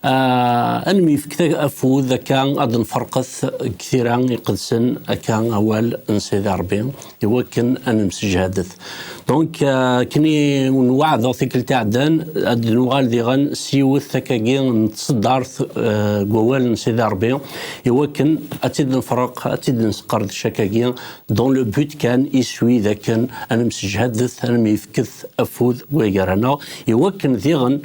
Ah, ad nemyefk afud akka ad nferqet deg tira iqedsen akka awal n Sidi Rebbi iwakken ad nemsejhadet. Donc ah, kni nweɛdeɣ tikkelt iɛeddan ad nuɣal diɣen s yiwet takkagi n tseddart ah, deg wawal n Sidi Rebbi iwakken ad tt-id-nefreq, ad tt-id-nesqerdec akkagi dans le but kan iswi d akken ad nemsejhadet, ad nemyefket afud weggar-aneɣ iwakken diɣen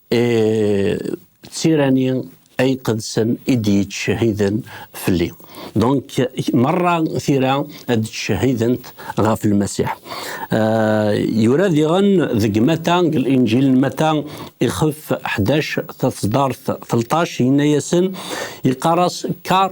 E, d tirani ay qedsen i d-yettcehiden fell-i. Donc, merra tira ad d-ttcehident ɣef Lmasiḥ. Euh, yura diɣen deg Mata, deg Linjil n Mata, ixef 11 taṣdart 13, yenna-yasen, yeqqar-as, car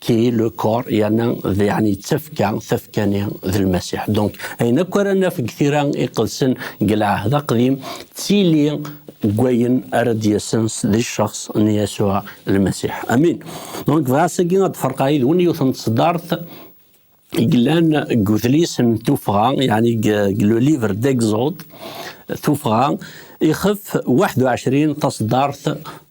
ki est le corps yerna yeɛni d tafekka tafekka-nni d lmasiḥ donc ayen akk ara naf deg tira iqedsen deg lɛehd aqdim d tili deg wayen ara d-yasen di cceɣs n Yasuɛ lmasiḥ amin donc bɣiɣ ass-agi ad d-ferqeɣ yid-wen yiwet n tseddart i yellan deg udlis n tuffɣa yeɛni deg le livre d'exode tuffɣa ixef 21 taseddart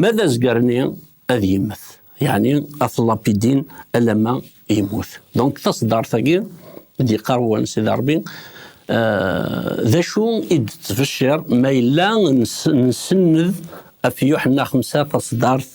Ma d azger-nni ad yemmet, yeɛni ad t-lapidin alamma yemmut. Donc taṣeddart-agi i d-yeqqar wan Sidi Ṛebbi, d acu i d-tettbecciṛ ma yella nsenned ɣef Yuḥenna Xemsa taṣeddart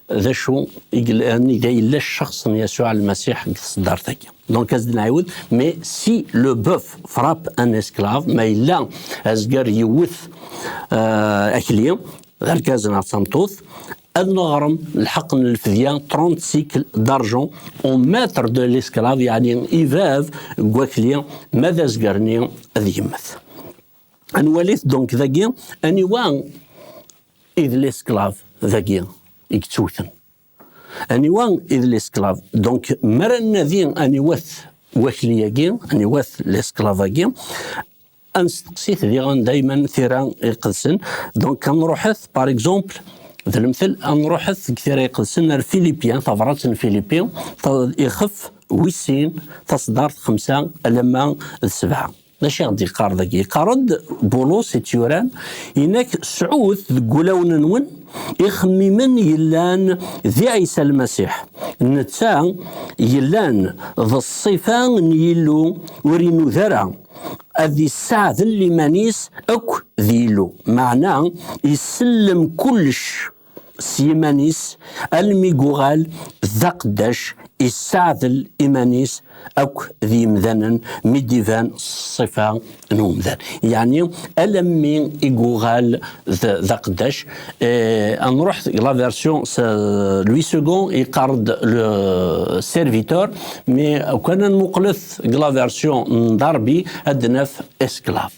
d acu i yellan iga yella cceɣs n Yasuɛ Lmasiḥ deg tseddart-agi. Donc ad nɛiwed mais si le bœuf frappe un esclave ma yella azger yewwet euh, akli d argaz neɣ d tameṭṭut ad neɣrem lḥeq n lfedya 30 cycle d'argent au maître de l'esclave yani i bab n wakli ma d azger-nni ad yemmet. ad nwalit donc dagi aniwa i d l'esclave dagi i yettewten aniwa i d l'esclave donc mi ara nadi aniwat wakli-agi aniwat l'esclave-agi ad nesteqsit diɣen dayma tira iqedsen donc ad nruḥet par exemple d lemtel ad nruḥet deg tira iqedsen ar Filipya tabrat n Filipi ixef wis sin taṣdart xemsa alamma d sebɛa. D acu i ɣ-d-yeqqar dagi? Yeqqar-d Bulus i tt-yuran, yenna-k sɛut deg wulawen-nwen ixemmimen yellan di Ɛisa Lmasiḥ, netta yellan d ṣṣifa n Yillu ur inuda ara ad isseɛdel iman-is akk d Yillu, meɛna isellem kullec s yiman-is almi yuɣal d aqeddac yessaɛdel iman-is akk d yimdanen mi d-iban ṣṣifa n umdan. Yeɛni alammi i yuɣal d aqeddac, eh, ad nruḥ deg la version s Louis II yeqqar-d le serviteur, mais ukan ad nmuqlet deg la version n Darby ad naf esclave.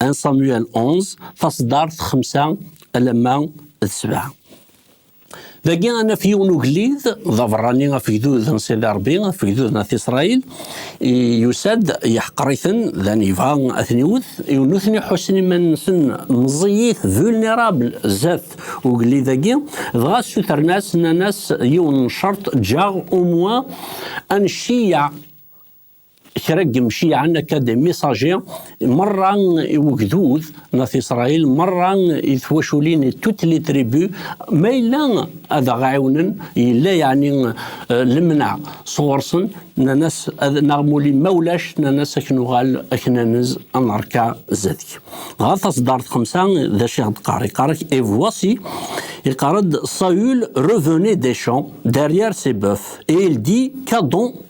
1 Samuel 11, taṣeddart 5 alamma d 7. Dagi ad naf yiwen ugellid d aberrani afegdud n Sidi Rebbi, afegdud n At Isṛayil, yusa-d yeḥqer-iten, dan yebɣa ad ten-iwet, nutni ḥussen iman-nsen meẓẓiyit, vulnerable, zdat ugellid-agi, dɣa ssutren-as, nnan-as yiwen n ccerṭ, ǧǧaɣ umwa annect-i kra n yemciɛen akka d misaji merra i wegdud n at Isṛayil, merra i twaculin i toutes les tribus, ma yella ad aɣ-ɛiwnen, yella yeɛni eh, lemneɛ sɣur-sen, nnan-as neɣ muli ma ulac, nnan-as ad k-nuɣal ad k-nanez ad nerka zdat-k. Dɣa taseddart xemsa d acu i ɣ-d-qqar? Iqqar-ak et voici, iqqar-d Saül revenait des champs derrière ses bœufs et il dit qu'Adon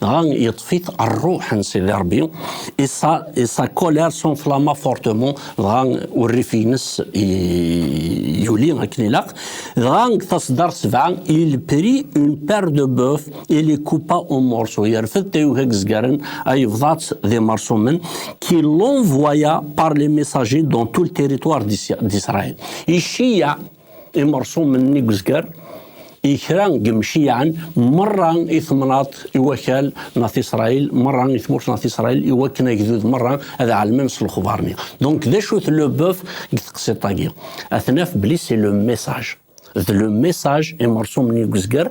Dɣa yeṭṭef-it rruḥ n Sidi Ṛebbi, isa, isa colère s'enflamma fortement, dɣa urrif-ines yuli akken ilaq, dɣa deg taṣeddart sebɛa, il prit une paire de bœuf et les coupa en morceaux, yerfed tayuga n yezgaren, yebḍa-tt d imerṣumen, qui l'envoya par les messagers dans tout le territoire d'Israël. Iceyyeɛ imerṣumen n igezgar i kra n yemciyaɛen merra i temnaḍt i wakal n At Isṛayil, merra i tmurt n At Isṛayil, i wakken agdud merra ad ɛelmen s lexbar-nni. Donc, d acu-t le bœuf deg teqsiṭ-agi? Ad t-naf belli c'est le message. D le message imerṣumen i yezger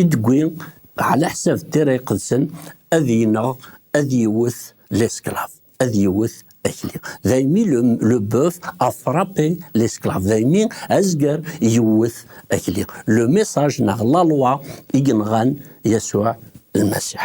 I d-tewwi ɛlaḥsab n tira iqedsen, ad ineɣ, ad iwwet l'esclave, ad iwwet akli. Daymi le boeuf a frappé l'esclave, daymi azger yewwet akli. Le message neɣ la loi i yenɣan Yasuɛ Lmasiḥ.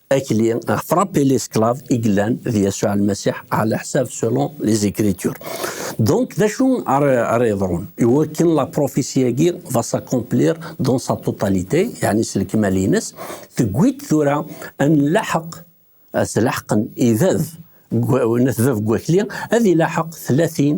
akli ɣef frappé l'esclave i yellan d Yasuɛ Lmasiḥ ɛla ḥsab selon les écritures. Donc d acu ara ara yeḍrun iwakken la prophétie-agi va s'accomplir dans sa totalité yaɛni s lekmal-ines tewwi-d tura ad nlaḥeq ad t-laḥqen ibab n at bab n wakli ad ilaḥeq tlatin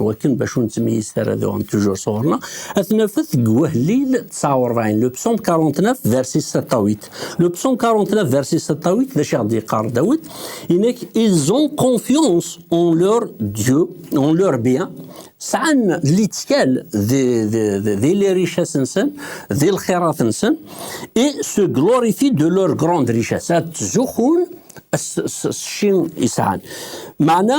Wakken bac ur nettmeyyiz ara d uɣen tujur sɣur-na, ad t-nafet deg wahlil 49, le psaume 49, verset 7 à 8. Le psaume 49, verset 7 à 8, d acu i ɣ-d-yeqqar Dawed? Inek, ils ont confiance en leur Dieu, en leur bien, sɛan littkal di lirichas-nsen, di lxirat-nsen, et se glorifient de leur grande richesse. Ad ttzuxun s cci i sɛan. Meɛna,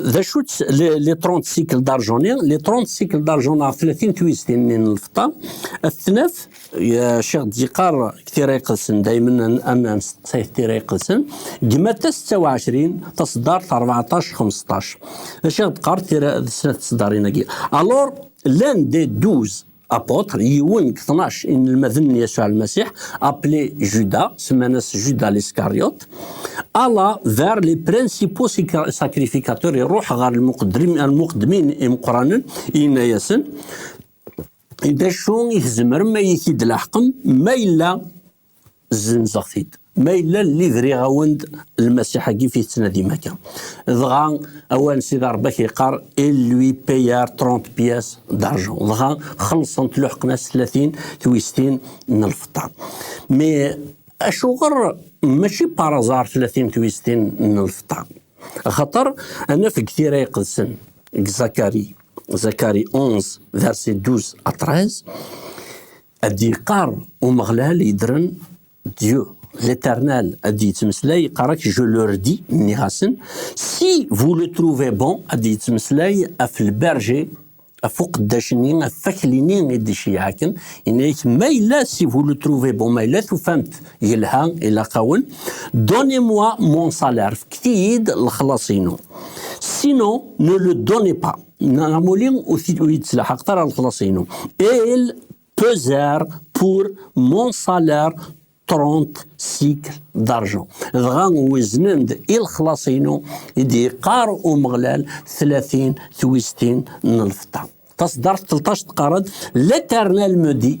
D acu-tt li 30 cycle d'argent-i? Li 30 cycle d'argent neɣ 30 twiztin-nni n lfeṭṭa, ad t-naf, Ccix d-yeqqar deg tira iqedsen, daymen ad nesteqsay deg tira iqedsen, deg Matta 26, taṣeddart 14, 15. D acu i ɣ-d-teqqar tira d snat tseddarin-agi? Alors, l'un des douze apôtre, yiwen deg tnac inelmaden n Yasuɛ Lmasiḥ, appelé Judas, semman-as Judas l'Iscariot, alla vers les principaux sacrificateurs, iruḥ ɣer lmuqeddmin imeqranen, yenna-yasen, d acu i tzemrem ad iyi-t-id-laḥqem ma yella zzenzeɣ-t-id. Ma yella li briɣ-awen-d lmasiḥ-agi fi tettnadim akka. Dɣa awan si d-arbak yeqqar il lui payar 30 pièces d'argent. Dɣa xellṣent luḥqen-as tlatin twistin n lfeṭṭa. Mi acuɣer mačči par azar tlatin twistin n lfeṭṭa? Axaṭer anaf deg tira iqedsen deg Zakari, Zakari 11 verset 12 à 13, Ad d-yeqqar Umeɣlal yeddren Dieu l'éternel ad d-yettmeslay yeqqar ak je le redis nniɣ-asen si vous le trouvez bon ad d-yettmeslay af le berger af uqeddac-nni af fakli-nni i d-iceyyaɛaken yenna-ak ma yella si vous le trouvez bon ma yella tufamt yelha ilaq-awen donnez-moi mon salaire fket-iyi-d lexlaṣ-inu sinon ne le donnez pas Neɣ amuli ur yi-d-tlaḥaqeḍ ara lexlaṣ-inu. Il peser pour mon salaire 30 cycle d'argent. Dɣa weznen-d i lexlaṣ-inu i d-yeqqar Umeɣlal 30 twistin n lfeṭṭa. Taṣeddart 13 teqqar-d, L'Éternel me dit,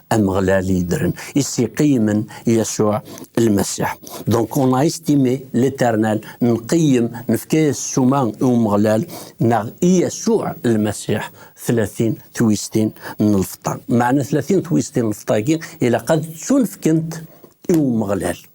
Ameɣlal i yeddren, i s-iqeyymen Yasuɛ Lmasiḥ. Donc on a estimé l'éternel, nqeyyem, nefka-yas ssuma i Umeɣlal neɣ i Yasuɛ Lmasiḥ tlatin twistin n lfeṭṭa. Meɛna tlatin twistin n lfeṭṭa-agi ilaq ad ttunefkent i Umeɣlal.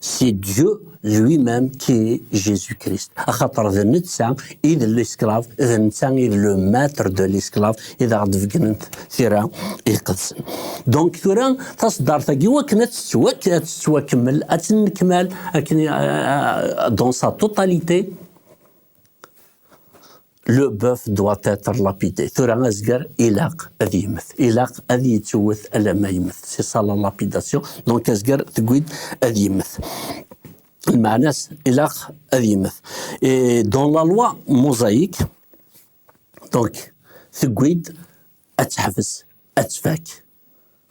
c'est Dieu lui-même qui est Jésus-Christ. Axaṭer d netta i d l'esclave, d netta i d le maître de l'esclave i d aɣ-d-beggnen tira iqedsen. Donc tura taṣeddart-agi wakken ad tettwakemmel, ad tennekmal akken euh, euh, dans sa totalité, le bœuf doit être lapidé tura azger ilaq ad yemmet ilaq ad yettwet alamma yemmet si ça la lapidation donc azger tewwi-d ad yemmet lmeɛna-s ilaq ad yemmet et dans la loi mosaïque donc tewwi-d ad teḥbes ad tfak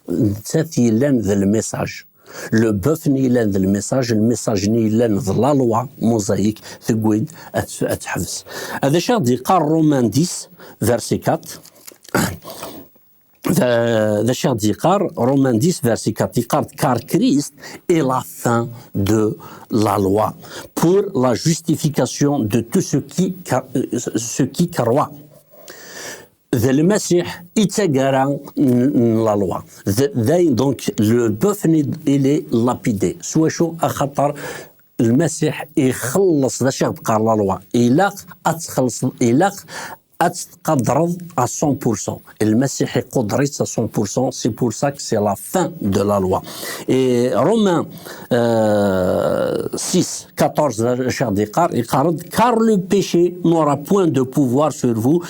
nettat yellan d lmissaj le bœuf ni yellan d lmissaj lmissaj ni yellan d la loi mosaïk tewwi-d ad teḥbes ad acu ad d-yeqqar Romain 10 verset 4 Euh, d acu i d-yeqqar Romain 10 verset 4 yeqqar car Christ est la fin de la loi pour la justification de tout ce qui euh, ce qui croit d lmasiḥ i d tagara n lalwa dayen donc le bœuf il est lapidé s wacu axaṭer lmasiḥ ixelleṣ d acu i ɣ-d-teqqar lalwa ilaq ad txellṣeḍ ilaq ad tettqadreḍ à 100% lmasiḥ iquder-itt à 100% c'est pour ça que c'est la fin de la loi et Romains euh, 6 14 d acu i ɣ-d-yeqqar iqqar-d car le péché n'aura point de pouvoir sur vous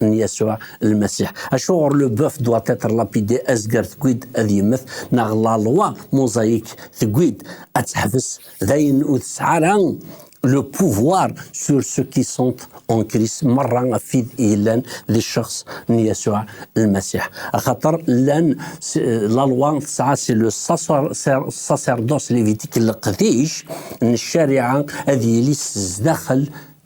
n Yasuɛ Lmasiḥ. Acuɣer le bœuf doit être lapidé, azger tewwi-d ad yemmet, neɣ la loi mosaïque tewwi-d ad teḥbes, d ayen ur tesɛi ara le pouvoir sur ceux qui sont en Christ, merra ɣef wid yellan di cceɣs n Yasuɛ Lmasiḥ. Axaṭer llan, la loi tesɛa c'est le sacerdoce lévitique, leqdic n ccariɛa ad yili sdaxel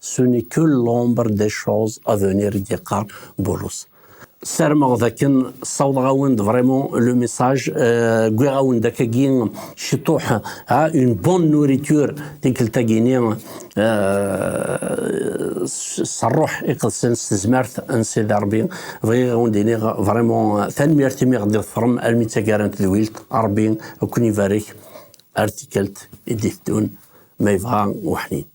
Ce n'est que l'ombre des choses à venir i d-yeqqar Bulus. Sarmeɣ d akken ssawḍeɣ-awen-d vraiment le message, euh, wwiɣ-awen-d akkagi ciṭuḥ, ha, une bonne nourriture tikkelt-agi-ni, euh, s rruḥ iqedsen, s tezmert n Sidi Rebbi. Bɣiɣ ad wen-d-iniɣ vraiment tanemmirt imi ɣ-d-iḍefrem almi d taggara n tedwilt. Rebbi ad ken-ibarek ar tikkelt i d-iteddun ma yebɣa weḥnin.